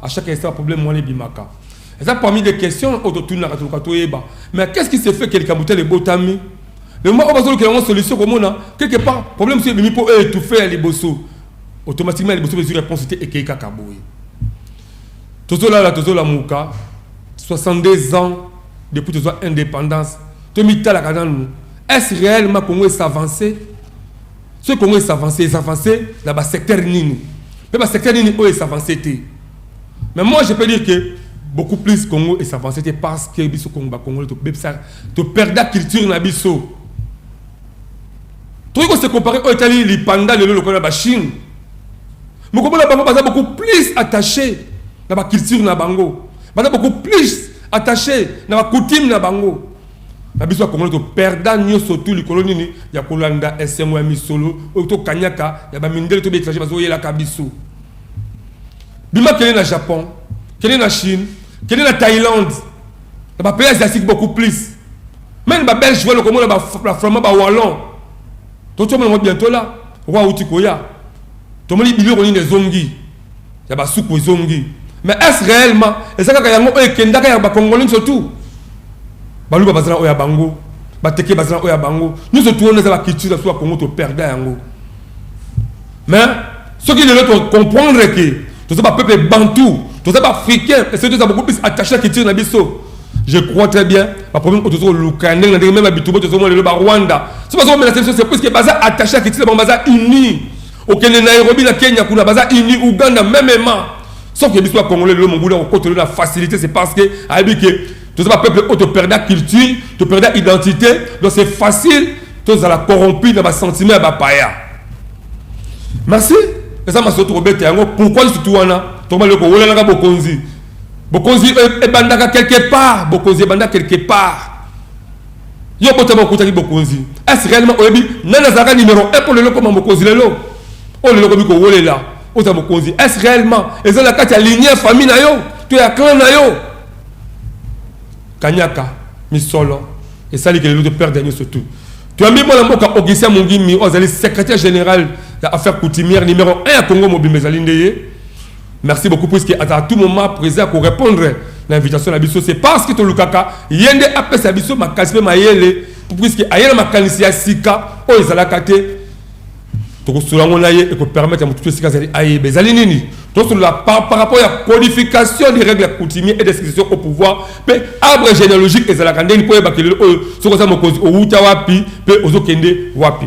A chaque instant problème wana ebimaka. Eza parmi des questions oyo totunaka toluka toyeba. Mais qu'est-ce qui se fait que likambo tel ebotami? Le moment oyo bazolukela yango solution komona quelque part problème mosusu ebimi mpo eetouffe ya liboso. Automatiquement ya liboso mpe ezwi réponse te ekei kaka boye. Tozolala tozolamuka 62 ans depuis tozwa indépendance tomitalaka nanu est-ce réellement Congo e s'avancer? Soki Congo e s'avancer, e s'avancer na ba secteurs nini? Mpe ba secteurs nini oyo e s'avancer te? Mais moi je peux dire que beaucoup plus Congo e s'avancer te parce que biso Congo ba Congolais to bebisa to perda culture na biso. Tokoki ko se comparer oyo etali lipanda lelo lokola ba Chine. Mokomona bango baza beaucoup plus attaché na ba culture na bango. Baza beaucoup plus attaché na ba coutume na bango. Na biso bakongole to perda nyoso tu likolo nini ya kolanda esengo ya misolo oyo to kanyaka ya ba mindele to ba etranger bazo yelaka biso. Bima kende na Japon, kende na Chine, kende na Thaïlande, na ba pays asiatique beaucoup plus. Meme ba belge welo komona ba ba flamand ba wallon. To to mona bientôt là, roi uti koya. Tomoni biloko nini ezongi. ya basuku ezongi mais est réellement eza kaka yango oyo ekendaka ya bakongole nyonso tu baluba bazala oyo ya bango bateke bazala oyo ya bango nyonso tu wana eza baculture biso ya kongo toperda yango mais soki lelo tocomprendre ke toza bapeuple bantou toza baafricain ese toza beaucoup plus attaché ya culture na biso je crois très bien baproblème oyo tozoluka ndenge na ndenge meme na bitubo tozomona lelo barwanda so bazokomenase biso c'est puiske baza attaché ya culture bango baza unis Okende Nairobi na Kenya kuna baza uni Uganda meme ma sauf que biso ba congolais lelo mobuna kokotelo na facilité c'est parce que ayebi que toza ba peuple oyo toperda culture toperda identité donc c'est facile tozala corrompu na basentiment ya bapaya merci eza masolo tokobeta yango pourquoi lisutu wana tokobali kowolanaka bokonzi bokonzi ebandaka quelque part bokonzi ebanda quelque part Yo obotama okutaki bokonzi. Est ce réellement oyebi nani azalaka numero 1 mpo lelo okoma mokonzi lelo? Oyo lelo okomi kowolela ozala mokonzi. Est ce réellement eza na kati ya lignée ya famille na yo to ya clan na yo? Kanyaka, misolo, esali ke lelo to perdre nyoso tout. Toyambi mwana mboka Augustin Mungimi oyo azali secrétaire général ya affaire coutumière numero 1 ya Congo mobimba ezali nde ye. Merci beaucoup puisque à tout moment président ko répondre na invitation na biso c'est parce que tolukaka ye nde apesa biso makasi mpe mayele puisque aye na makanisi ya sika oyo ezalaka te tokosolola yango na ye ekopermettre motutu esika azali ayeba ezali nini tosolola par, par rapport ya codification des règles coutumier et description au pouvoir mpe arbre généalogique ezalaka ndeni mpo oyebaka lelo oyo soki oza mokonzi owuta wapi mpe ozokende wapi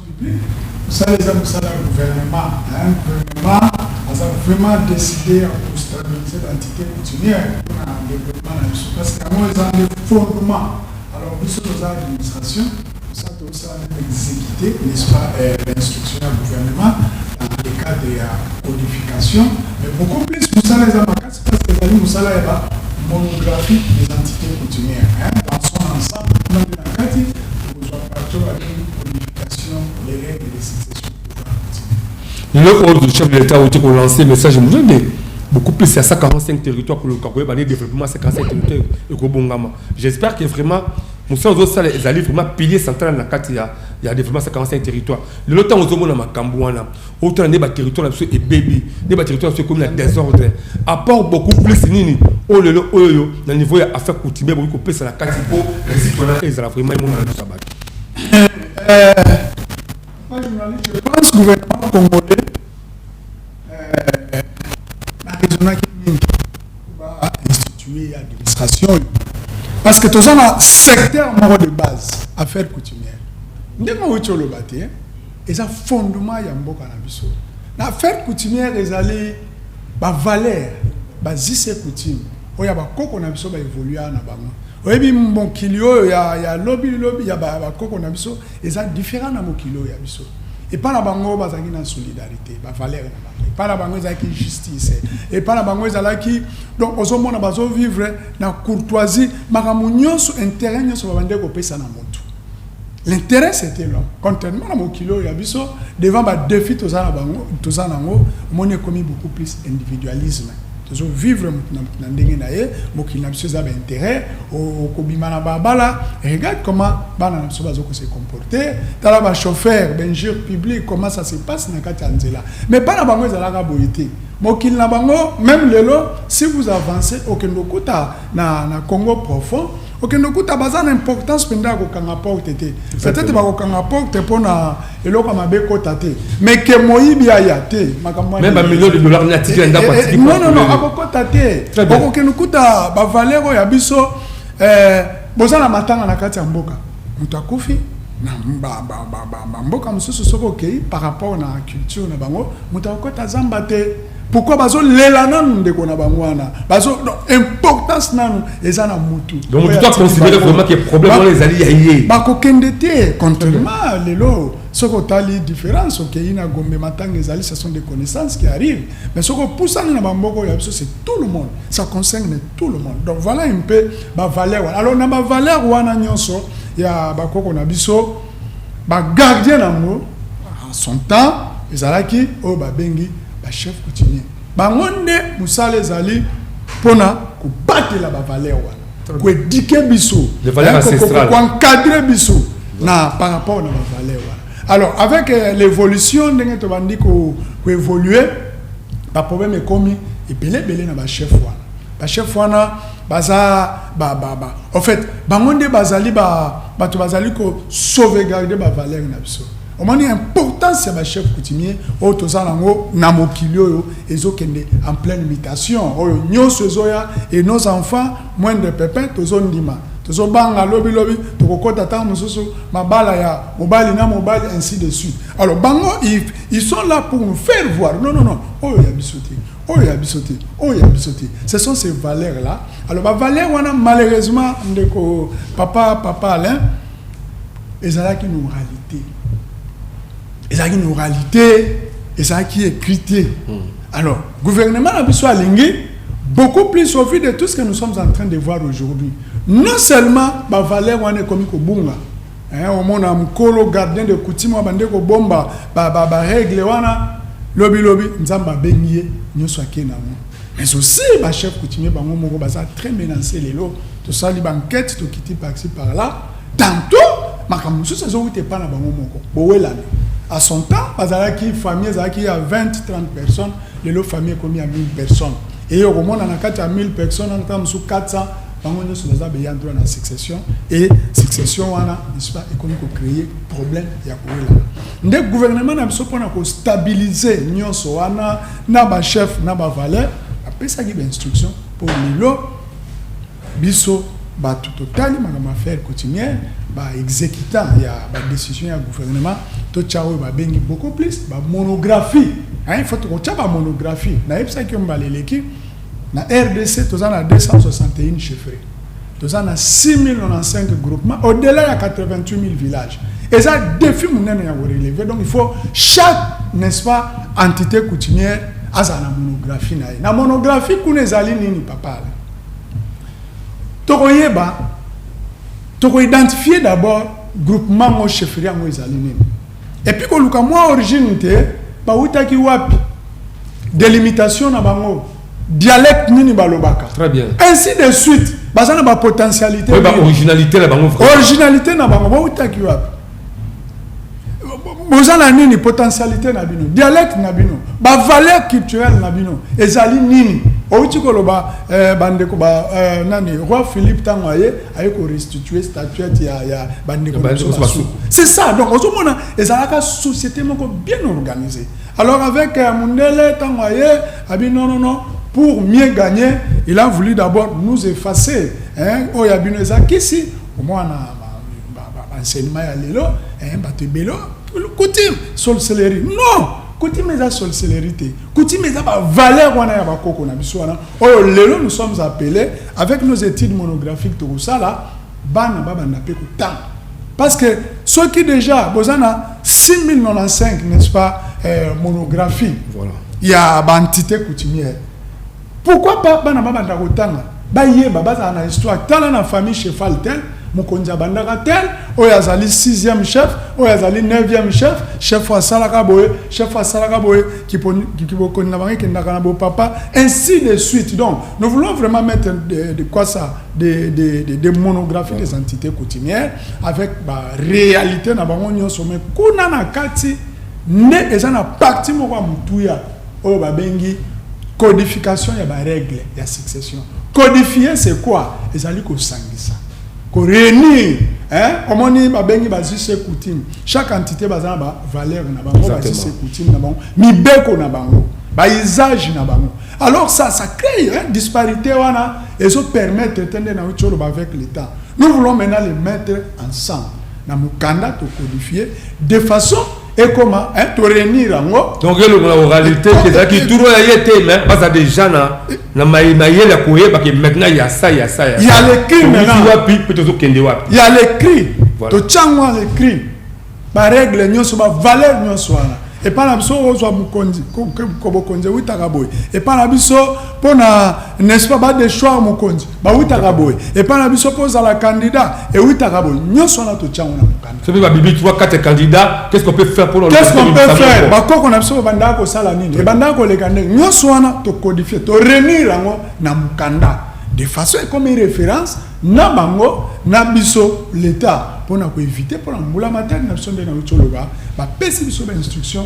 Musala eza musala ya gouvernement hein, gouvernement aza vraiment decide ya ko stabiliser ba entités coutumières pour na développement na biso parce que yango eza nde fondement. Alors biso toza administration musala tokosala nde exécuter n'est-ce pas euh, l'instruction ya gouvernement dans le cadre ya codification mais beaucoup plus musala eza makasi Science ezali mosala ya ba monographiques des entites coutumières hein, dans son ensemble kuna nde na kati okozwa partie babengi codification des règles de succession lelo oyo du chef de l'état outi kolancer message mosusu nde beaucoup plus ya 145 territoire koluka koyeba nde développement 145 territoire ekobongama j'espère que vraiment mosala ozosala ezali vraiment pilier central na kati ya ya développement 145 territoire lelo ntango ozomona makambo wana otala nde baterritoire na biso ebebi nde baterritoire na biso ekomi na desordre apport beaucoup plus nini oyo lelo oyo na niveau ya affaire coutumier bokoki kopesa na kati mpo risque wana ezala vraiment emonana biso ya bato je pense gouvernement congolais nazonaki mingi bainstitue ya administration oyo parce que toza na secteur moko de base affaire coutumière ndenge owuti oloba te Eza fondement ya mboka na biso. Na affaire coutumière ezali ba valeurs, ba us et coutumes oyo ya ba koko na biso ba evolua na bango. Oyebi mokili oyo ya, ya lobi lobi ya ba, ba koko na biso eza different na mokili oyo ya biso. epai na bango bazalaki na solidarité bavalere na bango epai na bango ezalaki justice epai na bango ezalaki donc ozomona bazovivre na courtoisie makambo nyonso interet nyonso babandeki kopesa na motu L'interet c'etait l'homme. Contrairement na mokili oyo ya biso, devant ba defis toza na bango, toza na yango, omoni ekomi beaucoup plus individualisme. Tozo vivre moto na moto na ndenge na ye, mokili na biso eza ba interet, okobima na balabala, regarde comment bana na biso bazo ko se comporter, tala ba chauffeurs, ba injures publiques comment ça se passe na kati ya nzela. Mais bana bango ezalaka boye te. Mokili na bango, meme lelo, si vous avancez, okende okuta na, na Congo profond, Okende okuta baza na importance mpenza ya kokanga porte te peut-être bakokanga porte mpo na eloko ya mabe ekota te mais ke moyibi aya te makambo Même ba millions de dollars ni atiki na ndako atiki porte nonono mbele. Eh, akokota te Très bien. okokende okuta bavaleur oyo ya biso eh, boza na matanga na kati ya mboka moto akufi na ba- ba- ba- ba- bamboka mosusu soki okei par rapport na culture na bango moto akokota zamba te Pourquoi bazo lela nanu ndeko na bango wana bazo importance nanu eza na mutu donc tu dois considérer vraiment que problème wana ezali ya ye bakokende te contrairement lelo soki otali différence okei na gombe matanga ezali ce sont des connaissances qui arrivent mais soki opusani na bamboka oyo ya biso c'est tout le monde ça concerne tout le monde donc voilà un peu bavaleur wana alors na bavaleur wana nyonso ya bakoko na biso Ba gardiens nango en son temps ezalaki oyo babengi ba chefs coutumiers. Bango nde musala ezali pona kobatela ba valeurs wana, ko eduquer biso, ko encadrer biso na par rapport na ba valeurs wana. Alors avec euh, l'évolution ndenge tobandi ko évoluer, ba problèmes ekomi ebele ebele na ba chefs wana. Ba chefs wana baza ba ba ba en fait bango nde bazali ba bato bazali ko sauvegarder ba valeurs na biso omoni importance ya ba chefs coutumiers oyo toza nango na mokili oyo ezokende en pleine mutation oyo nyonso ezoya et nos enfants moins de pepin tozondima tozobanga lobi lobi tokokota ntango mosusu mabala ya mobali na mobali ainsi de suite alors bango ils sont là pour nous faire voir non non non oyo ya biso te oyo ya biso te oyo ya biso te ce sont ces valeurs là alors ba valeurs wana malheureusement ndeko papa papa Alain ezalaki na oralité ezalaki na oralité ezalaki écrit te hmm. alors gouvernement na biso alingi beaucoup plus au vu de tout ce que nous sommes en train de voir aujourd'hui non seulement ba valeurs wana ekomi kobunga Eeh omona mukolo gardien de coutume abande ko bomba ba regle wana lobi lobi nzambe abengi ye nioso ake na ngo mais aussi ba chef coutumier bango moko baza très menance lelo tosali ba enquete tokiti par ci par là tantot makambo mosusu ezowuta epa na bango moko bowelani à son temps bazalaki famille ezalaki ya 20 30 personnes lelo famille ekomi ya 1000 personnes eye okomona na kati ya 1000 personnes wana ntango mosusu 400 bango nyonso baza ba ayant droit na succession et succession wana n'est-ce pas ekomi ko créer problème ya kowelana nde gouvernement na biso mpona ko stabiliser nyonso wana na ba chef na ba valeur apesaki ba instruction mpo lelo biso bato totali makambo ya faire coutumière ba exécutant ya ba décision ya gouvernement totya oyo babengi beaucoup plus ba monographie il faut tokotya ba monographie nayebisaki yo mbala eleki Na rdc toza na 261 chefferies. Toza na 6095 groupements au delà ya 88000 villages. Eza défi munene ya ko relever. Donc il faut chaque n'est-ce pas entité coutumière aza na monographie na ye. Na monographie kuna ezali nini papa? Tokoyeba toko identifier d'abord groupement ngo chefferie yango ezali nini. Et puis koluka mwa origine te bawutaki wapi delimitation na bango dialecte nini balobaka très bien ainsi de suite baza na bapotentialité oui, ba originalité na bango originalité na bango bawutaki wapi boza na nini potentialité na bino dialecte na bino bavaleur culturelle na bino ezali nini outi koloba eh, bandeko ba eh, nani roi philippe ntango aye aye ko restituer statuette ya ya ba ndeko na biso basuku c'est ça donc ozomona ezalaka société moko bien organisée alors avec euh, mundele ntango aye abi non non non pour mieux gagner il a voulu d'abord nous effacer hein oyo abino eza kisi omwana enseignement ya lelo hein bato ebele coutume sorcellerie non coutume eza sorcellerie te coutume eza ba valeur wana ya bakoko na biso wana oyo lelo nous sommes appelés Avec nos etudes monographiques tokosala bana babanda pe kotanga parce que soki déjà boza na 6095 n'est-ce pas euh, monographie voilà. ya baentité coutumière pourquoi pas bana babanda kotanga bayeba bazala na histoire tala na famille cheval tel Mokonzi abandaka tel, oyo azali sixième chef, oyo azali neuvième chef, chef asalaka boye, chef asalaka boye, kibokoni na bango ekendaka na bopapa, ainsi de suite. Donc, nous voulons vraiment mettre de, de quoi ça, des de, de, de monographies des entités coutumières avec ba réalité na bango nyonso, mais kuna na kati nde eza na parti moko ya motuya oyo babengi codification ya ba règle ya succession codifier c'est quoi ezali kosangisa ko réunir hein omoni babengi bazise coutume chaque entité baza na ba valeur na bango bazise coutume na bango mibeko na bango ba usage na bango alors ça ça crée hein, disparité wana ezo permettre te nde na uti oloba avec l'état nous voulons maintenant les mettre ensemble na mokanda tokodifier de façon ekoma hein, to réunir yango donc elongola oralité te ezalaki turo ya ye te mais baza déjà na na mayele ya koyeba ke maintenant ya sa ya sa ya ya l'écrit maintenant wapi mpe tozokende wapi ya l'écrit totyango ya l'écrit barègle nyonso bavaleur nyonso wana epai na biso ozwa mokonzi kobokonzi ewutaka boye epai na biso mpo na n'est-ce pas badechoir mokonzi bawutaka boye epai na biso mpo ozala kandida ewutaka boye nyonso wana totyango na mokanda soki babibi 3 4 candidat qu'est-ce qu'on peut faire pour qu'est-ce qu'on peut faire bakoko na biso babandaka kosala nini ebandaka koleka ndenge nyonso wana tokodifie torenir yango na mokanda de façon ekomi référence na bango na biso l'état mpona koevite mpona mbula matari na biso nde nauti oloba bapesi biso bainstruction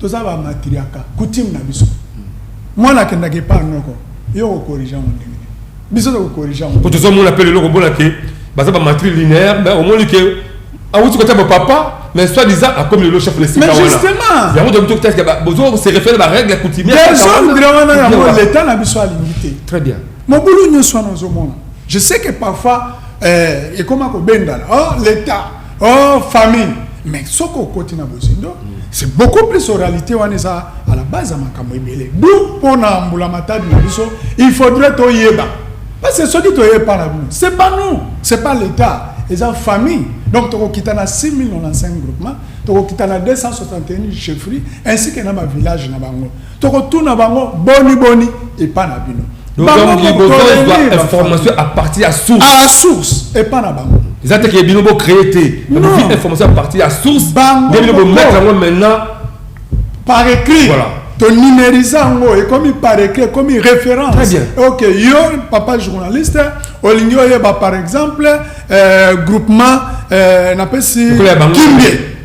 toza ba matriaka coutume na biso mwana akendaka epa noko yo okorige yango ndenge nini biso tokokorige yango po tozomona mpe lelo komona ke baza ba matri linéaire mais omoni ke awuti kota ba papa mais soit disant akomi lelo chef de sika wana yango tokoki tokitaka bozo se réfère ba règle coutumière desordre wana yango l'état na biso alingi te très bien mobulu nyonso wana ozomona je sais que parfois eh, ekoma kobendana oh l'état oh famille mais soki okoti na bozindo c'est beaucoup plus oralité wana eza à la base ya makambo ebele d'où mpo na mbulamatadi na biso il faudrait toyeba parce que soki toyei mpa na bino c'est pas nous c'est pas l'état eza famille donc tokokita na 6095 groupement tokokita na 261 chefferie ainsi que na bavillage na bango tokotuna bango boni boni epa na bino information à partir ya source à la source epa na bango eza te ke bino bocree te bozwi information à partir ya source nde bino bomettre yango maintenant par écrit voilà tonumérisa yango ekomi par écrit ekomi référence Très bien. ok yo papa journaliste olingi oyeba par exemple euh, groupement euh, napesi kimbie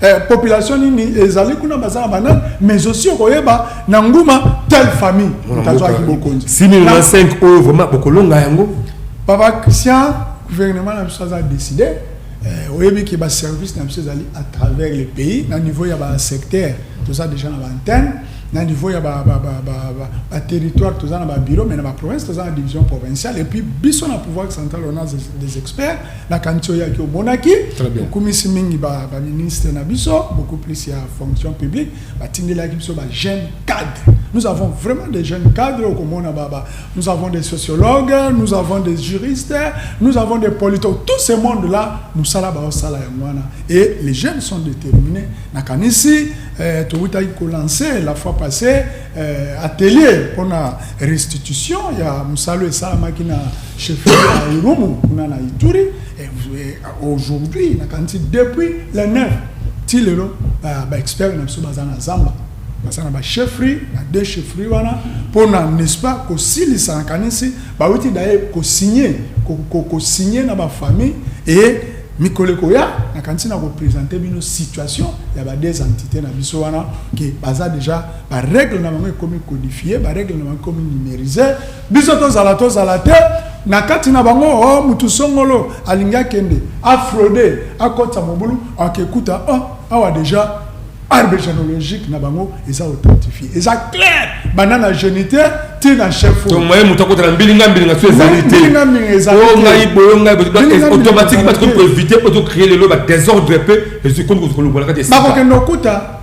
eh, population nini ezali kuna baza na banani mais aussi okoyeba na nguma telle famille moto azwaki bokonzi 6005 oyo vraiment bokolonga yango papa christian gouvernement na biso aza décide eh, oyebi ke baservice na biso ezali à travers le pays na niveau ya basecteur toza déjà na baantenne na niveau ya baterritoire toza na babiro mais na baprovince toza na division provinciale et puis biso na pouvoir central on a des experts nakanisi oyaki omonaki okumisi mingi baministre na biso beaucoup plus ya fonction publique batindelaki biso bajeune cadre nous avons vraiment des jeunes cadres okomona baba nous avons des sociologues nous avons des juristes nous avons des politologues tout ce monde là mosala baosala yango wana et les jeunes sont déterminés nakanisi eh, towutaki kolancer la fois passée eh, atelier pona restitution ya mosalo esalamaki na chef ya irumu kuna na ituri eh, aujourd'hui nakanisi depuis le 9 ti lelo baexpert ba na biso baza na zamba baza na bachefferie na deux chefferie wana mpona n'est-ce pas kosilisa nakanisi bauti daye kosigne kosigne na bafamille e mikolo ekoya nakanisi na kopresente bino situation ya ba deux entité na biso wana ke baza déjà ba règle na bango ekomi codifier ba règle na bango ekomi numériser biso tozala tozala te na kati na bango o oh, motu songolo alingi akende afraude akotisa mobulu akekuta o oh, awa déjà arbre généalogique na bango eza authentifie eza clair banda na géniteur ti na chef oye moto akotala mbilinga mbilinga so ezali teongai boyo ngai automatique bato koevite oto créer lelo badésordre mpe ezwi komi kolongola kati bakokende okuta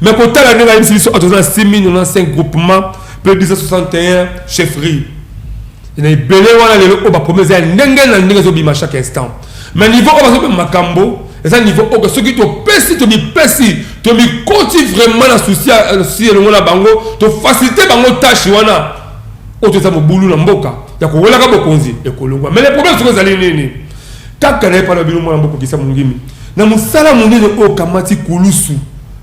Mais kotala ndenge ayebisi biso atoza na 6095 groupement mpe 261 chefferie na ebele wana lelo oyo bapromese ya ndenge na ndenge ezobima chaque instant mais niveau oyo bazobima makambo eza niveau oyo soki topesi tomipesi tomikoti vraiment na susi elongo na bango tofacilite bango tâche wana oyo toza mobulu na mboka ya kowelaka bokonzi ekolongwa mais le problème soki ezali nini kaka na ye mpana bino mwana mbokokisa mongimi Na mosala monene oyo okamati, kulusu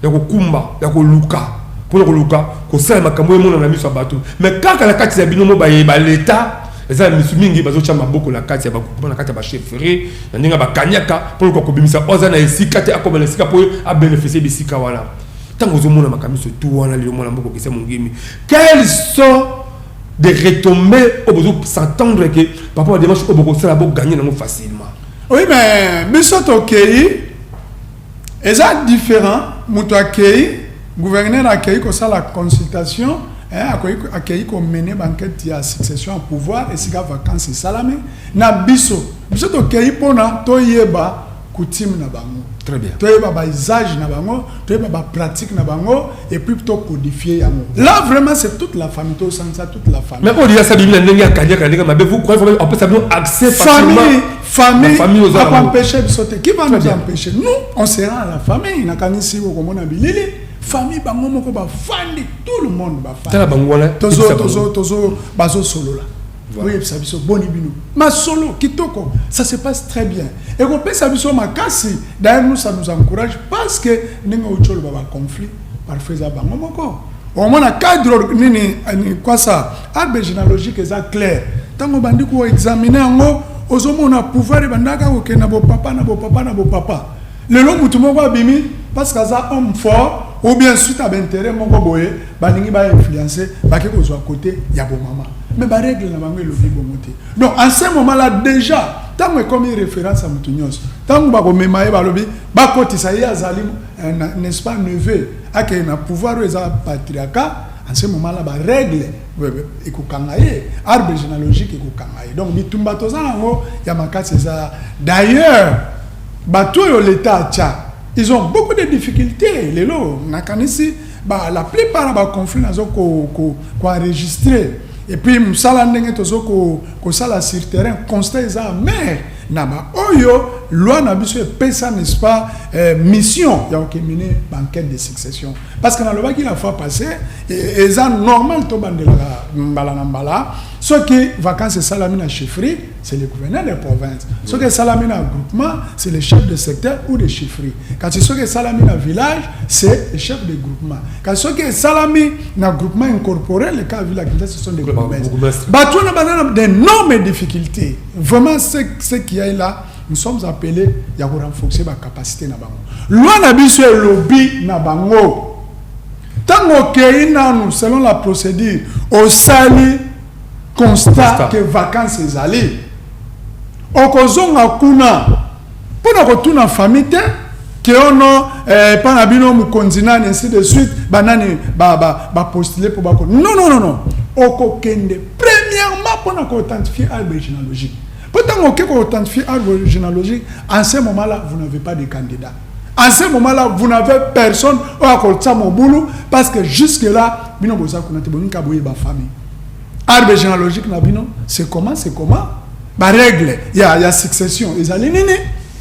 ya kokumba ya koluka mpo na koluka kosala makambo oyo emonana na miso ya bato, mais kaka na kati ya bino moko baye ba l'Etat, eza na misu mingi bazotia maboko na kati ya ba groupements, na kati ya ba chefferies, na ndenge ya ba kaniaka mpo na koluka kobimisa oyo aza na esika te akoma na esika mpo a beneficier bisika wana. Tango ozomona makambo inso tout wana lelo mwana mboka okeseni mongimi, quels sont des retombees oyo bozo s'entendre que par rapport na demarche oyo bokosala bo gagner na yango facilement? Oui mais biso tokeyi eza different moto akeyi gouverneur akeyi kosala consultation eh, akoki akeyi komene banquete ya succession ya pouvoir esika vacance esalami na biso biso tokeyi mpona toyeba coutume na bango très bien toyeba baisage na bango toyeba ba pratique na bango et puis to codifier yango là vraiment c'est toute la famille to sansa toute la famille mais odia sa biblia ndenge akanyaka ndenge mabe vous croyez vraiment après ça nous accès facilement famille famille aux alentours empêcher biso te qui va nous empêcher nous on sera à la famille na kanisi ko komona bilili famille bango moko ba fandi tout le monde ba fandi tala bango wana tozo tozo tozo bazo solola boyebisa biso boni bino masolo kitoko ça se passe très bien ekopesa biso makasi d'ailleurs nous ça nous encourage parce que ndenge outi oloba baconflit parfois eza bango moko omona cadre nini kwasa arbre généalogique eza claire ntango obandi koexamine yango ozomona pouvoir ebandaka kokenda bopapa na bopapa na bopapa lelo motu moko abimi parce que aza homme fort ou bien suite ya bainteret moko boye balingi ba influencer bake kozwa kote ya bomama mais baregle na bango elobi bongo te donc en ce moment là déjà ntango ekomi référence ya moto nyonso ntango bakomema ye balobi bakotisa ye azali eh, n'est-ce pas neveu akei na pouvoir oyo eza patriarcat en ce moment là baregle ekokanga ye arbre généalogique ekokanga ye donc bitumba toza nango ya makasi eza d'ailleurs bato oyo leta atya ils ont beaucoup de difficultés lelo nakanisi Ba la plupart na ba conflits nazo ko ko ko enregistrer et puis musala ndenge tozo ko ko sala sur terrain constat eza amer na ba oyo loi na biso epesa n'est-ce pas eh, mission ya kokemine banquete de succession parce que nalobaki la fois passé e, eza normal tobandelaka mbala na mbala soki vacances esalami na chefferie c'est le gouverneur de province soki esalami na groupement c'est le chef de secteur ou de chiffrie kasi soki esalami na village c'est le chef de groupement kasi soki esalami na groupement incorporé le cas village kinta ce sont des bourgmestres bato wana banana des normes difficultés vraiment ce, ce qui est là nous sommes appelés ya ko renforcer ba capacité na bango loi na biso elobi na bango ntango okei nanu selon la procédure osali constat que vacances ezali okozonga kuna pona kotuna famille te que oh non eh, epa na bino mokonzi nani ainsi de suite banani bapostule ba, ba mpo bako non non non non okokende premièrement mpona koauthentifie arbre généalogique mpo ntango oke koauthentifie arbre généalogique en ce moment là vous n'avez pas de candidat En ce moment-là, vous n'avez personne oyo akolisa mobulu parce que jusque-là, bino boza kuna te boninka boye ba famille. Arbre généalogique na bino, c'est comment, c'est comment? Ba règle ya ya succession ezali nini?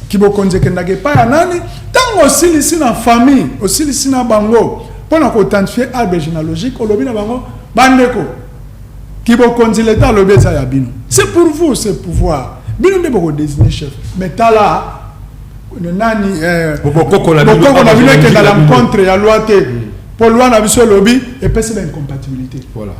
Kibokonzi ekendaka epai ya nani? Ntango osilisi na famille, osilisi na bango mpo na koidentifier arbre généalogique, olobi na bango bandeko, kibokonzi leta alobi eza ya bino. C'est pour vous ce pouvoir. Bino nde bokodesigne chef. Mais tala nani eh, bokoko na bino ekenda na mcontre ya loi te mpo loi na biso elobi epesi ba incompatibilité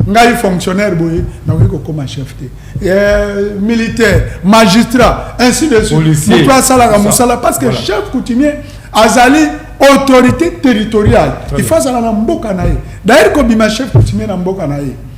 ngai fonctionnaire boye nakoki kokoma chef te eh, militaire magistrat ainsi de suite moto asalaka mosala parce que chef coutumier azali autorité territoriale il faut azala na mboka na ye d'ailleurs kobima chef coutumier na mboka na ye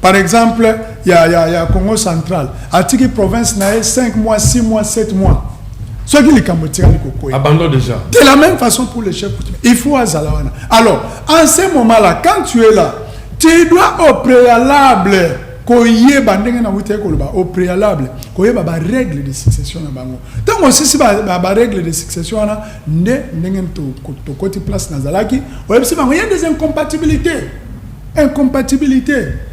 Par exemple ya ya ya Congo central atiki province na ye 5 mois 6 mois 7 mois soki likambo etikali kokwea abandon déjà de la même façon pour le chef il faut azala wana alors en ce moment là quand tu es là tu dois au préalable koyeba ndenge na wutaki koloba au préalable koyeba barègle de succession na bango ntango osisi barègle de succession wana nde ndenge tokoti place nazalaki oyebisi bango ye des incompatibilité Incompatibilite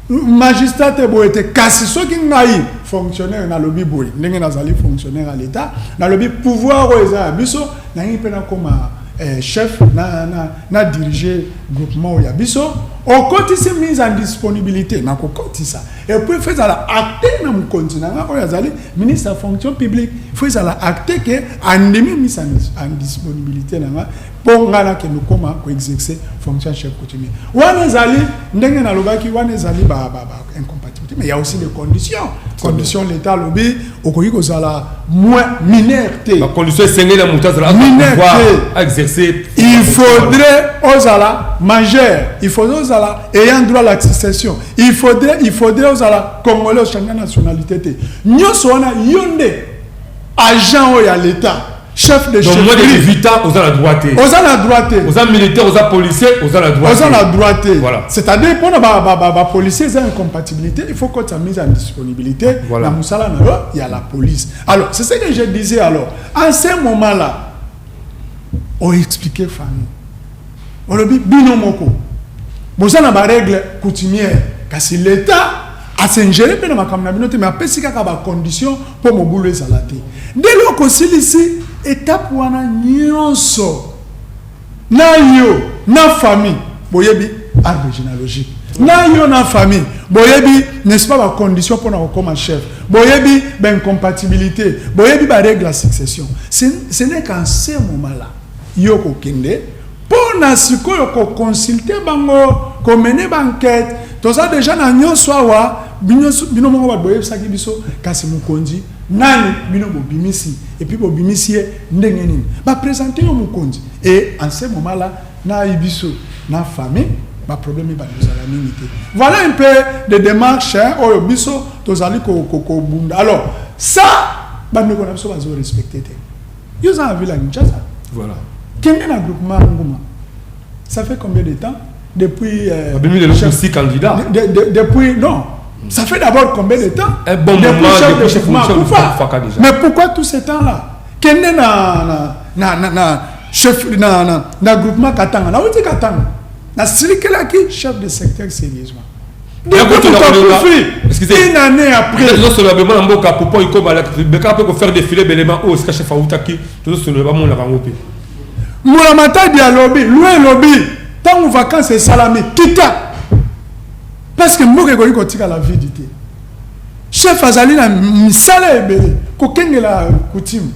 magistrat te boye te kasi soki ngai fonctionnaire nalobi boye ndenge nazali fonctionnaire ya l'etat nalobi pouvoir oyo eza ya biso nalingi mpe nakoma eh, chef na, na, na dirige groupement oyo ya biso okotisi mise en disponibilité nakokotisa epuis fo ezala acte na mokonzi na ngai oyo azali ministre ya fonction publique fo ezala acte ke andimi mise en disponibilité na ngai Mpo ngai nakende kokoma ko exercer fonction ya chef coutumier. Wana ezali ndenge nalobaki, wana ezali ba ba ba incompatibilité, mais il y a aussi des conditions. Condition l'État alobi okoki kozala moins mineur te. Ba conditions esengeli ya moto azala Mineur pouvoir te. exercer Il faudrait ozala majeur, il faudrait ozala ayant droit à la succession, il faudrait il faudrait ozala congolais ochanger nationalité te. Nyonso wana yo nde agent oyo ya l'État. chef de chef moins de 18 ans oza na droit te oza na droit te oza militaire oza policier oza na droit oza na droit te voilà c'est à dire pona ba ba ba policier eza incompatibilité il faut que ça mise en disponibilité voilà. na musala na yo il y a la police alors c'est ce que je disais alors à ce moment là on expliquait famille olobi bino moko boza na ba règle coutumière kasi l'état asengere mpe na makambo na bino te me apesi kaka bacondition Po mobulu ezala te. Nde eloko osilisi etape wana nionso na yo na famille boyebi arbre genealogique na yo na famille boyebi n'est-ce pas ba conditions pona kokoma chef boyebi ba incompatibilite boyebi ba règle ya succession ce n'est qu'en ce moment là yo kokende Pona sikoyo ko consulter bango, ko mener ba enquetes, toza dejà na nionso awa, bino moko batu boyebisaki biso, kasi mokonzi nani bino bobimisi et puis bobimisi ye ndenge nini? Ba presenter yo mokonzi et en ce moment là na biso na famille ba problèmes ebandi kozala mingi te. Voilà un peu des demarches oyo biso tozali ko bunda alors ça bandeko na biso bazo respecter te. Yo oza na ville ya Kinshasa. Voilà. Kende na groupement Nguma. Ça fait combien de temps depuis euh, Abimi le chef candidat. De, de, de, depuis non. Mm. Ça fait d'abord combien de temps Un bon depuis moment chef depuis chef Faka déjà. Mais pourquoi tout ce temps là Kende na na na na, na chef na na, na groupement Katanga. Na wuti Katanga. Na silikelaki chef de secteur sérieusement. une année après tozosolola bemona mboka popo ikobala beka mpe kofaire défilé belema oyo sika chef autaki tozosolola bamonaka yango mpe mbula matadi alobi lwa elobi ntango vacances esalami kita parce que mboka ekoki kotikala vide te chef azali na misala ebele kokengela coutume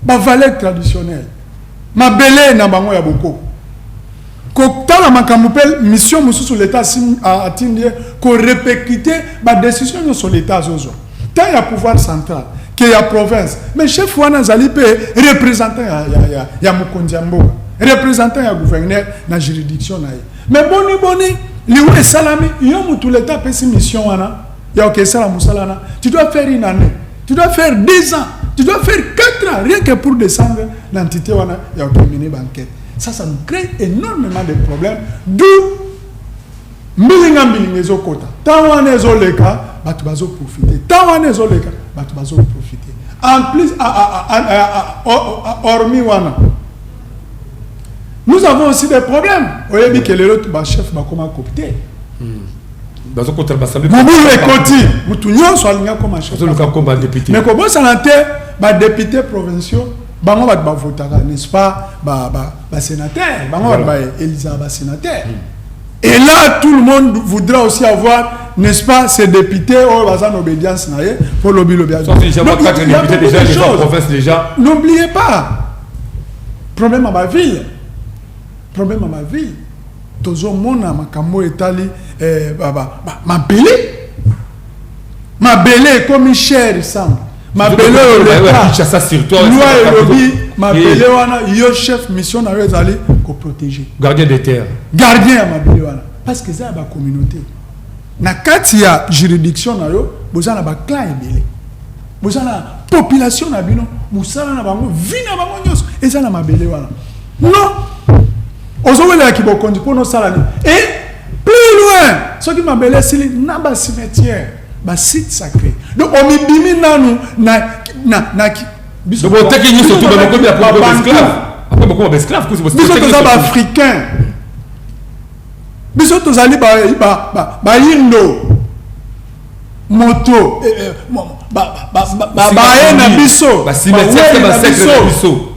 bavaleur traditionnelle mabele na bango ya bokoko Kotala makambo mpe mission mosusu l'Etat asimbi, atindi ye ko repercuter ba decisions nionso l'Etat azozwa, tant ya pouvoir central que ya province. Mais chef wana azali mpe representant ya, ya, ya, ya mokonzi ya mboka, representant ya gouverneur na juridiction na ye. Mais boni boni liwa esalami, yo mutu l'Etat apesi mission wana ya oke esala mosala wana, tu dois faire une annee, tu dois faire deux ans, tu dois faire quatre ans rien que pour descendre l'entité wana ya oke emene ba enquetes. Ça, ça nous crée énormément de problèmes, d'où mbilinga mbilinga ezokota ntango wana ezoleka bato bazoprofite ntango wana ezoleka bato bazoprofite en plus hormis wana nous avons aussi des problèmes oyebi ke lelo bachef bakoma copte mobulu ekoti motu nyonso alingi akoma chef mais kobosana te badepute provinciaux bango bato bavotaka n'est-ce pas ba, ba, ba sénateur bango bato voilà. baelizaka ba sénateur mm. et là tout le monde voudra aussi avoir n'est-ce pas ces députés oyo baza na obédience na ye mpo lobi lobi n'oubliez pas problème ya baville problème ya baville tozomona makambo oyo etali eh, mabele Mabele ekomi cher Samba. Mabele oyo loi elobi mabele eh. wana yo chef mission na yo ezali koprotege gardien de terre gardien ya mabele wana parce que eza ya bacommunauté na kati ya juridiction na yo boza na baclan ebele boza na population na bino mosala na bango vi na bango nyonso eza na mabele wana non ozowelela kibokonzi mpo nosala nini e plus loin soki mabele esili na bacimetière basite sacré donc omibimi nanu na, na, na biso boteki nyonso tu bakomi ya esclave apres bokoma baesclave kuzi biso toza baafricain biso tozali bayindo ba, ba, ba moto baye na biso biso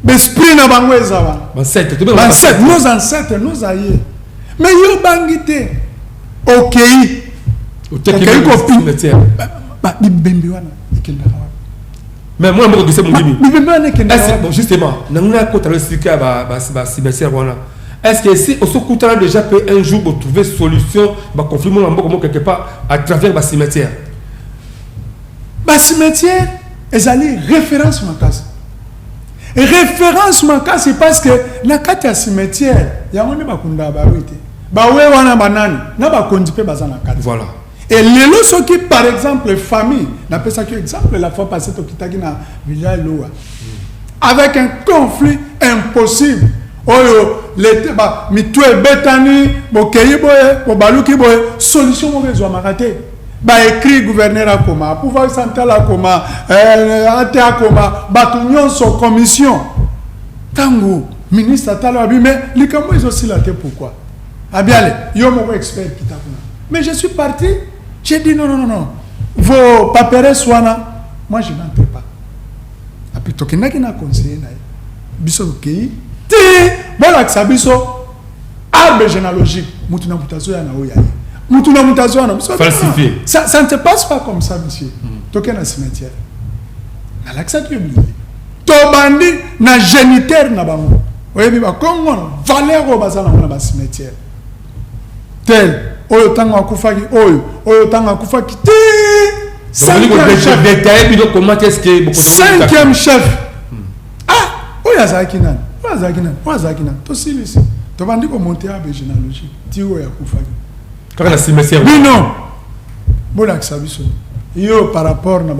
besprit na bango eza wana nos ancêtres nos aye mais yo obangi te okei okei kopi bibembe wana ekendaka mais mwana moko gise mondimi bon justement nango nakota na esika ya bacimetière wana est ce que si osokutana déjà mpe un jour botrouve solution baconflit moko na mboka moko quelque part à travers bacimetière bacimetière ezali référence makasi référence makasi parce que na kati ya cimetière yango nde bakundaka barui te bawe wana banani na bakonzi mpe baza na kati voilà Et lelo soki par exemple famille, n'a pas ça exemple la fois passée au Kitaki na Villa Loa, avec un conflit impossible. Oyo l'été ba mitu ebetani bokeyi boye bobaluki boye solution moko ezwamaka te baécrit gouverneur akoma pouvoir central akoma euh, ate akoma bato nyonso commission ntango ministre atala abi me likambo ezosila te pourquoi Abiale, yo moko expert kita kuna. Mais je suis parti, j'ai dit non, non, non, non. Vos paperes wana, moi je n'entre pas. Api tokendaki na conseiller na ye. Biso tokei, ti bolakisa biso arbre généalogique, mutu na mutu azoya na oyo ya ye. Mutu na mutu azoya na biso. Falsifié. Ça, ça ne se passe pas comme ça, monsieur. Mm. Tokei na cimetière. Nalakisaki yo bilili. Tobandi na geniteur na bango. Oyebi ba Kongo na valeur oyo baza nango na ba cimetière. Tel oyo tango akufaki oyo oyo tango akufaki ti cinquième chef. Ah oyo azalaki nani? Oyo azalaki nani? Oyo azalaki nani? Tosilisi. Tobandi ko monter abe genealogie ti oyo akufaki. kaka na cimetière bino bolakisa biso yo par rapport na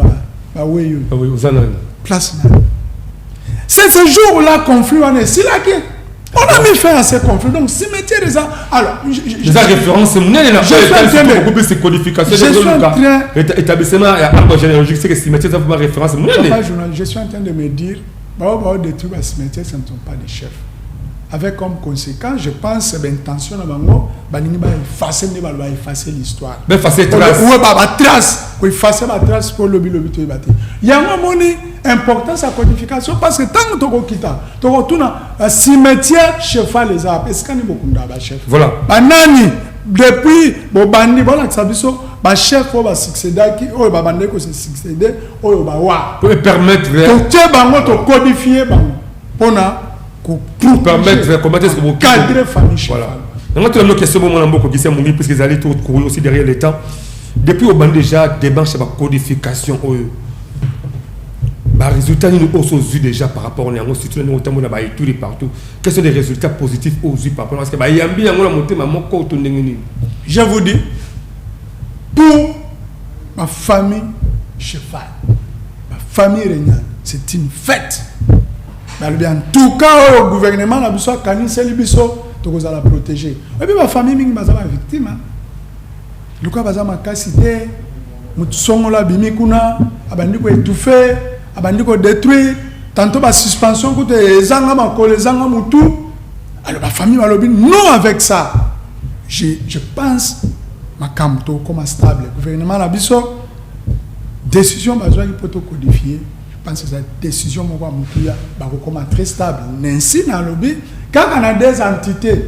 baweyi ah oyo oza nani place na c'est ce jour là conflit wana esilaki on a mis fin à ce conflit donc cimetière eza alors eza référence monene na beaucoup plus codification établissement ya arbre généalogique c'est que cimetière eza vraiment référence monene je suis en train de me dire Ba oyo bao detruire ba cimetière ce ne sont pas des chefs avec comme conséquence je pense ba intention na bango balingi ba effacer nde baloba effacer l'histoire ba effacer trace ou ba ba trace ko effacer ba trace pour lobi lobi to ebate yango moni importance ya codification parce que ntango tokokita tokotuna euh, cimetière chefal eza wapi esikani bokunda bachef voilà banani depuis bobandi bolakisa biso bachef oyo basuccédaki oyo babandaki kose succéde oyo bawa permettre totie bango tokodifie bango mpona permettre comment est-ce que vous cadrez famille voilà yango tuna mino question bomona mbo kokisa mongi puisque ezali to courir aussi derrière le temps depuis obandi déjà démarche ya bacodification oyo baresultat nini oyo so ozwi déjà par rapport na yango surtout na ndenge otambola na baétude partout quels sont les résultats positifs oyo ozwi par rapport parce que bayambi yango na motema moko to ndenge nini je vous dis pour Ba famille cheval, ba famille regnale, c'est une fête. Balobi en tout cas oyo gouvernement na biso akaniseli biso tokozala protégé. Oyebi ba famille mingi baza ba victime. Hein? Luka baza makasi te, motu songolo abimi kuna, abandi ko étouffer, abandi ko détruire, tantôt ba suspension kutu ezanga makolo, ezanga mutu. Alors ba famille balobi non avec ça. Je, je pense makambo tokoma stable gouvernement na biso décision bazwaki mpo tocodifie pense eza décision moko ya motuya bakokoma très stable nansi nalobi kaka na des entités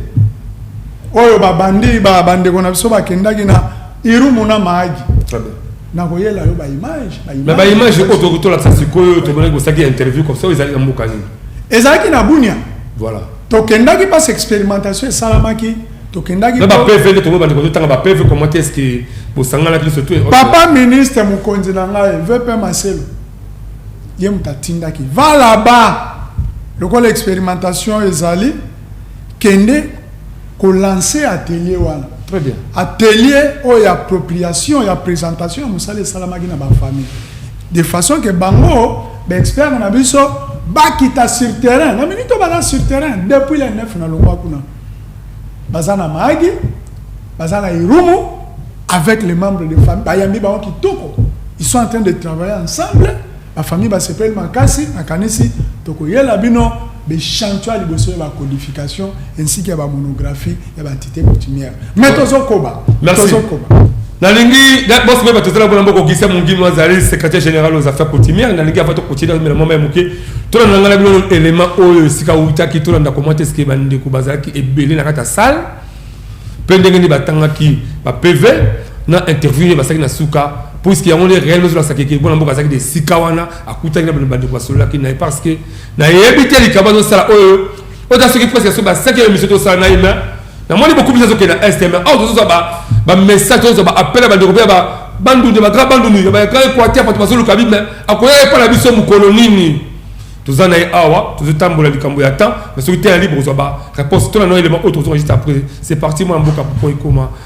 oyo babandi bandeko na biso bakendaki na irumu na maagi nakoyela yo baimage baimage oyo tokoki tolakisa sikoyo tomonaki kosaki interview comme ça oyo ezalaki na mboka nini ezalaki na bunia voilà tokendaki mpasi expérimentation esalamaki tokendaki na ba PV nde tomoni bandeko totanga ba PV comment est-ce que bosanganaki biso tout papa ministre mokonzi na ngai VP Maselo ye moto atindaki va là-bas lokola expérimentation ezali kende kolancer atelier wana très bien atelier oyo ya appropriation ya présentation ya mosala esalamaki na bafamille de façon ke bango baexpert na biso bakita sur terrain na minute obala sur terrain depuis le 9 na longwa kuna baza na maagi baza na irumu avec les membres de famille bayambi bango kitoko ils sont en train de travailler ensemble bafamille basepeli makasi nakanisi tokoyela bino bechantion ya liboso ya bacodification ainsi ke ya bamonographie ya baentité coutumière mais tozokoba tozokoba nalingi bosi mpe bato ezala mpona mbokokisa mongimi azali secrétaire général aux affaires coutumière nalingi avant tokotina mela mama ya moke tolanda ngai na bino elema oyo esika autaki tolanda koma te sike bandeko bazalaki ebele na kati ya salle mpe ndenge nini batangaki ba pv na interview ye basalaki na suka puiske yango nde réel ezolasaki ke mwana mboka azalaki de esika wana akutaki na bandeko basololaki na ye parce que nayebi te likambo azosala oyo oyo ta soki presque soki basaki ya emission tosala na ye me namoni bokumisa azokende na est me awa tozozwa bamessage tozozwa baappel ya bandeko mpe ya bandundu ya bagra bandundu ya bagra equateur bato bazoluka bi me akoya epa na biso mokolo nini toza na ye awa tozotambola likambo ya temps mais soki te ya libre kozwa baréponse to na no elema oyo tokozwa juste après c'est parti mwana mboka poko ekoma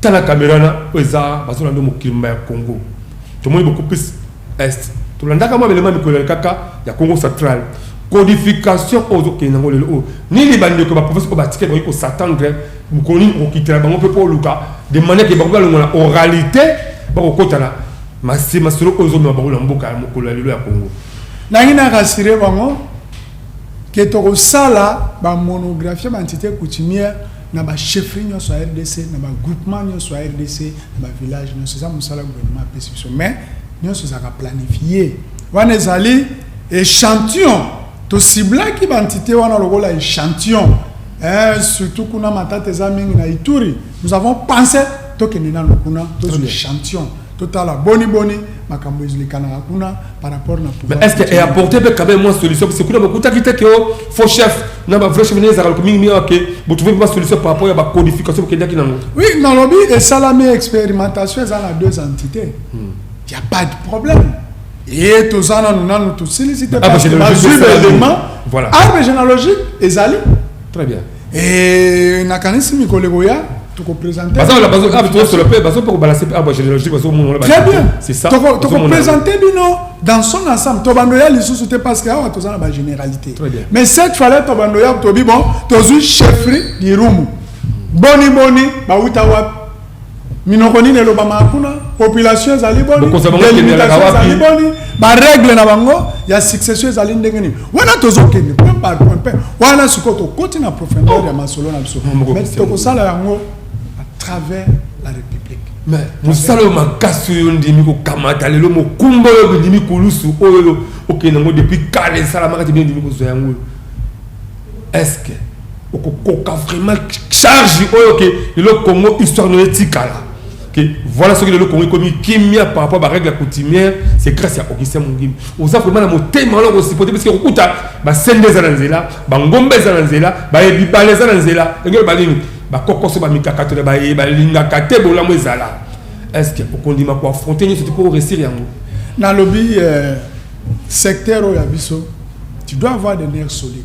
Tala camera na oyo eza bazo landa mokili mba ya Congo tomoni beaucoup plus est tolandaka mwa belema mikolo ya kaka ya Congo central codification oyo ozo kende ngo lelo oyo nini ba ndeko ba professeur ko ba tikela ko s'attendre mokolo nini okokitela bango pe po luka de manière que bango balongola oralité bakokotana masi masolo oyo ezomema bango na mboka ya mokolo ya lelo ya Congo nangi na rassurer bango que tokosala ba monographie ba entité coutumière na ba chefferie nyonso ya rdc na ba groupement nyonso ya rdc na ba village nyonso eza mosala gouvernement apesi biso mais nyonso ezalaka planifie wana ezali échantillon tosiblaki bantite wana lokola échantillon eh, surtout kuna matata eza mingi na ituri nous avons pensé tokende nano kuna tozwa échantillon totala boni boni makambo ezilikanaka kuna par rapport na mais est ce que eapporte mpe quand même mwa solution parce que kuna bakutaki te ke oh, faux chef na ba vrai chef nde ezalaka loko mingi mingi oke botrouve mpe basolution par rapport ya bacodification bokendaki nango oui nalobi esalami expérimentation eza na deux entité hmm. ya pas de problème ye toza nanu nanu tosilisi te bazwi baélément arme généalogique ezali très bien Eh, nakanisi mikolo ekoya tokopresente bino dans son ensemble tobando ya lisusu te parce que awa toza na bagénéralité mais cette fallait tobando ya tobi bon tozwi chefferie lirumu boni boni bawuta wapi minoko nini elobamaka kuna population ezali boni delimitation ezali boni baregle na bango ya succession ezali ndenge nini wana tozokende point par point mpe wana sikoyo tokoti na profondeur ya masolo na biso mai tokosala yango à travers la république mais mosala oyo makasi oyo ndimi kokamata lelo mokumba oyo bindimi kulusu oyo okende yango depuis kala esalamaka te bino ndimi kozwa yango oyo est ce que okokoka vraiment charge oyo ke lelo congo histoire no etikala que voilà ce que le Congo commis kimia par rapport à la règle coutumière c'est grâce à Augustin Mungim oza vraiment na motema wana kosipote parce que okuta basende eza na nzela bangombe eza na nzela bayebibale eza na nzela engelo balingi bakokoso bamikakato na baye balingaka te bolamu ezala est ce que okondima koaffronte nyonso te mpo oresir yango nalobi euh, secteur oyo ya biso tu dois avoir des nerfs solides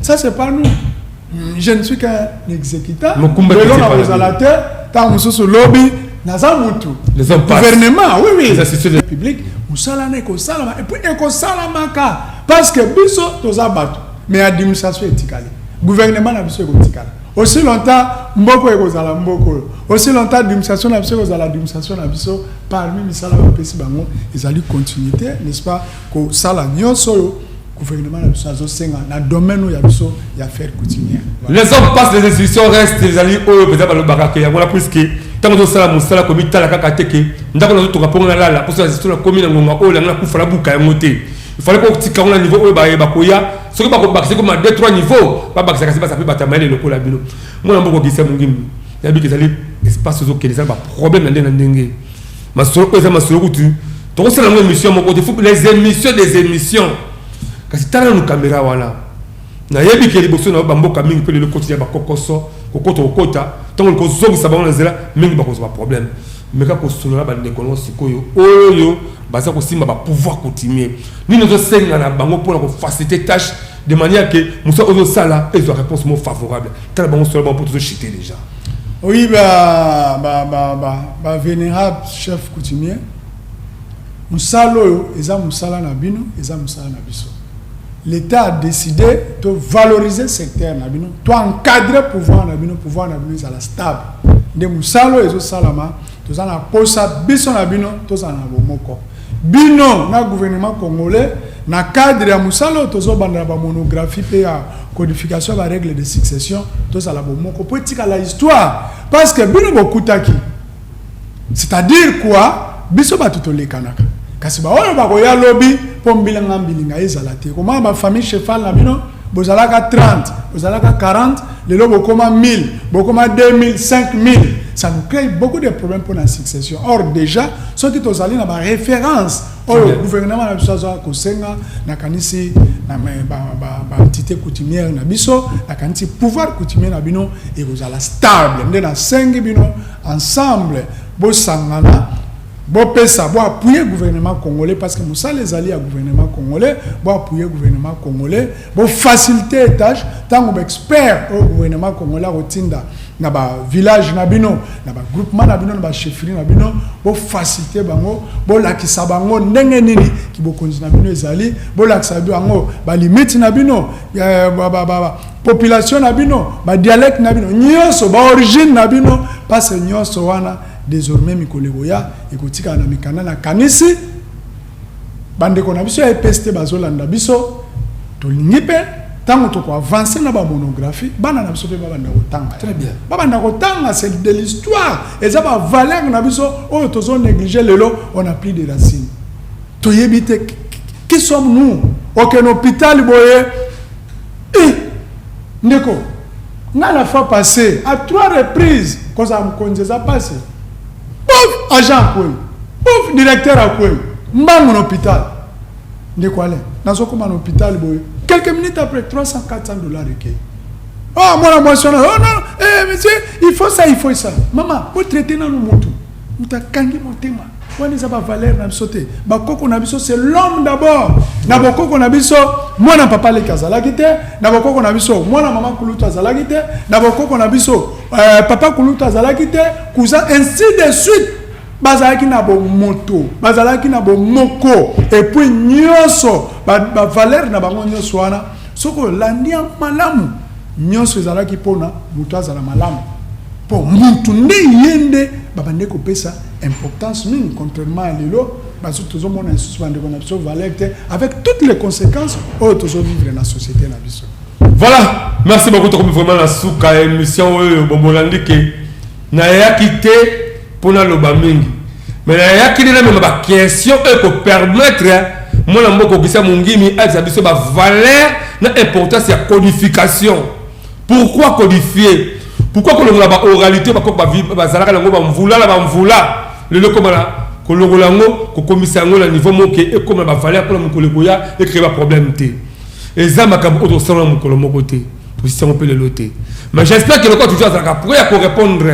Ça c'est pas nous. Je ne suis qu'un exécutant. Mukumba qui s'est parlé. Lelo te, tango mosusu lobi naza mutu. Les hommes passent. Gouvernement, oui oui. Les institutions de public musala na ekosalama et puis ekosalamaka parce que biso toza bato mais administration etikali. Gouvernement na biso ekotikala. Aussi longtemps mboko ekozala mboko oyo. Aussi longtemps administration na biso ekozala administration na biso parmi misala bapesi bango ezali continuité, n'est-ce pas, kosala nyonso oyo Gouvernement na biso azo senga na domaine ya biso ya faire coutumière. Les hommes passent les institutions restent ezali oyo beza balobaka ke yango la plus que ntango tozosala mosala komitala kaka te ke ndako nazotonga mpongo nalala mposo nazito nakomi na ngonga oyo langa nakufa nabuka yango te ifale mpo kotika yango na niveau oyo baye bakoya soki bakobakisa ekoma de trois niveau babakisaka se basa mpe bato ya mayele lokola bino mwana mboka ogisa mongimbi yabika ezali espace ozokende ezali baproblème na ndenge na ndenge Masolo oyo eza masolo kutu tokosala yango emission moko te faut les émissions des émissions kasi tala nanu kamera wana nayebi ke liboso na yo bamboka mingi mpe lelo koti ya bakokoso kokota kokota ntango likozongisa bango na nzela mingi bakozwa baproblème meka kosolola bandeko nango sikoyo oyo baza kosimba bapouvoir coutumier nini ozosenga na bango mpo na kofacilite tâche de manière ke mosala ozosala ezwa réponse mo favorable tala bango solola bango mpo tozochite déjà Oui, ba, ba, ba, ba, ba vénérable chef coutumier, mosala oyo eza mosala na bino, eza mosala na biso. L'État a décidé de valoriser secteur na bino, to encadrer pouvoir na bino, pouvoir na bino ezala stable. Nde mosala oyo ezosalama, toza na posa biso na bino tozala na bomoko. Bino na gouvernement congolais na cadre ya musala oyo tozo banda na ba monographie pe ya codification ya ba règles de succession tozala bomoko po etikala histoire parce que bino bokutaki c'est à dire quoi biso batu tolekanaka kasi ba oyo bakoya lobi po mbilinga mbilinga ezala te komona ba famille cheval na bino Bozalaka 30, bozalaka 40, lelo bokoma 1000, bokoma 2000, 5000. Ça nous crée beaucoup de problèmes pour la succession. Or déjà, ceux qui sont allés dans ma référence, oh, le gouvernement na biso aza kosenga na kanisi na ba ba ba entité coutumière na biso, na kanisi pouvoir coutumier na bino et vous allez stable. Nde na sengi bino ensemble bosangana Bo pesa, bo appuyer gouvernement congolais parce que mosala ezali ya gouvernement congolais, bo appuyer gouvernement congolais, bo faciliter ye tâche, tango ba experts oyo gouvernement congolais ako tinda na ba villages na bino, na ba groupements na bino, na ba chefferies na bino, bo faciliter bango, bo lakisa bango ndenge nini ki bokonzi na bino ezali, bo lakisa bango ba limites na bino, eh, ba, ba, ba, ba population na bino, ba dialectes na bino, nionso, ba origines na bino, parce que nionso wana Desormais mikolo ekoya ekotikala na mikanda na kanisi bandeko na biso ya EPST bazolanda biso tolingi mpe ntango toko avance na bamonographie bana na biso mpe babanda kotanga très bien babanda kotanga c'est de l'histoire eza bavaleur na biso oyo tozo néglige lelo on a plus de racine toyebi te qui sommes nous okende hôpital boye eh, ndeko Nga la fois passe a trois reprise kozala mokonzi eza pasi pouf agent akwei pouf directeur akwei mbangu na hopital ndeko ale nazokoma na hopital boye quelques minutes après 300 400 dollars ekei oh mwana mwasi wana oh non eh monsieur il faut ça il faut ça mama botraite nanu motu moto akangi motema Wana eza ba valeur na biso te. Ba koko na biso c'est l'homme d'abord. Na ba koko na biso mwana papa leki azalaki te, na ba koko na biso mwana mama kulutu azalaki te, na ba koko na biso euh, papa kulutu azalaki te, cousin ainsi de suite. bazalaki na bomoto bazalaki na bomoko epuis nyonso bavalere ba na bango nyonso wana soki olandi yango malamu Nionso ezalaki pona mutu azala malamu po mutu nde ye nde babandaki kopesa importance mingi contrairement ya lelo bazo tozo mona lisusu ba ndeko na biso valeur te avec toutes les consequences oyo tozo vivre na societe na biso. Voilà, merci beaucoup tokomi vraiment na suka ya emission oyo bomolandi ke nayaki te po na loba mingi me na yaki nde namema ba question oyo ko permettre mwana mboka okisa mongimi ayebisa biso ba valeur na importance ya codification pourquoi codifier pourquoi kolongola ba oralité ba koko bazalaka nango ba mvula na ba mvula lelo koma na kolongola yango kokomisa yango na niveau moke ekoma na ba valeur pona mokolo ekoya ecree ba problème te eza makambo oyo tosala na mokolo moko te Tobosisi yango mpe lelo te. Mais j'espère que lokola toujours azalaka prêt ya ko répondre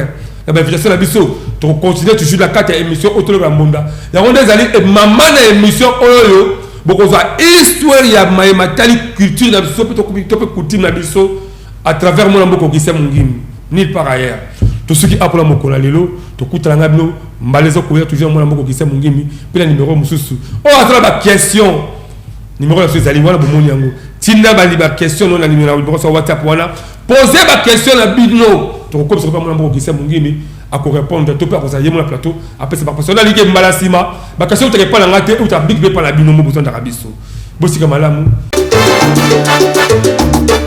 na ba invitation na biso, toko continuer toujours na kati ya emission oyo toloba ya mbunda. Yango nde ezali mama na emission oyo bokozwa histoire ya maye matali culture na biso mpe to mpe coutume na biso à travers mwana mboka Augustin Mungimbi nulle part ailleurs. Tosuki apo na mokolo ya lelo, tokutana na bino mbala ezokoya toujours mwana mboka Augustin Mungimbi mpe na numero mosusu oyo azala ba question Numéro na ezali wana bomoni yango. Tinda bali ba question non na numéro na bokosa WhatsApp wana. Posez ba question na bino. Tokokopesa ko pamona mboko kisa mungini ako répondre to pe akosa yemo na plateau apesa ba question na like mbala sima ba question teke pala ngate ou ta big be pala bino mo bozondaka biso. Bosika malamu.